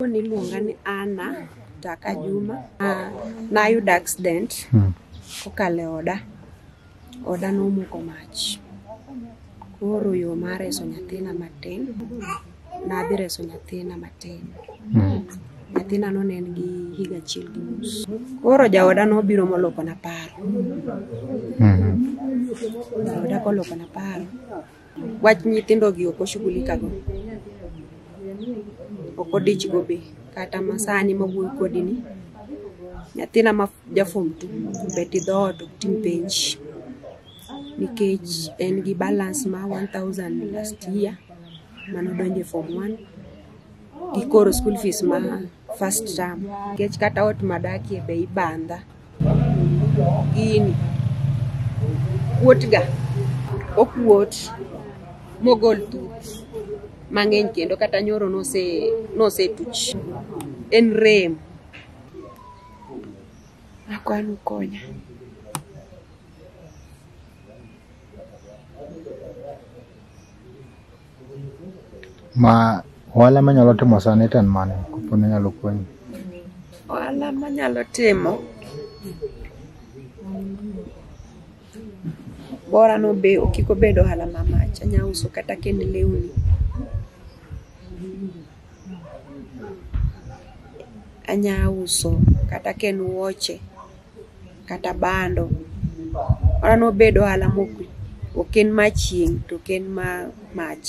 Jatuo niluonga ni Anna Taka Juma. Ah, Nayudo accident Hmm. kokalo e oda. Oda nomoko mach. Koro yo mar reso nyathina matin, nadhi reso nyathina matin. Hmm. Nyathina no ne en gi higa achiel gi nus. Koro jaoda nobiro molokona paro. Hmm. Jaoda kolokona paro. Wach nyithindo gi ok oshughulika go. Ok odich go be. Kata masani ma wuoyo kodi ni. Nyathina ma jafom tu. Bet i dhoot ok tim penj. Nikech en gi balance ma 1000 last year. Mano donje form 1. Gikoro school fees ma first term. Nikech kata ot madakie be ibandha. gini kuotga okuot mogol thuth mang'eny kendo kata nyoro nose nosetuch en rem akwanu konya Ma ohala manyalo timo sani to en mane kopo ni nyalo konyi? Ohala manyalo timo bora no be kik obed ohala ma mach anya uso kata kend lewni anya uso kata ka en wuoche kata bando. Mano obedo ohala mok en ma chieng' to ok en ma mach.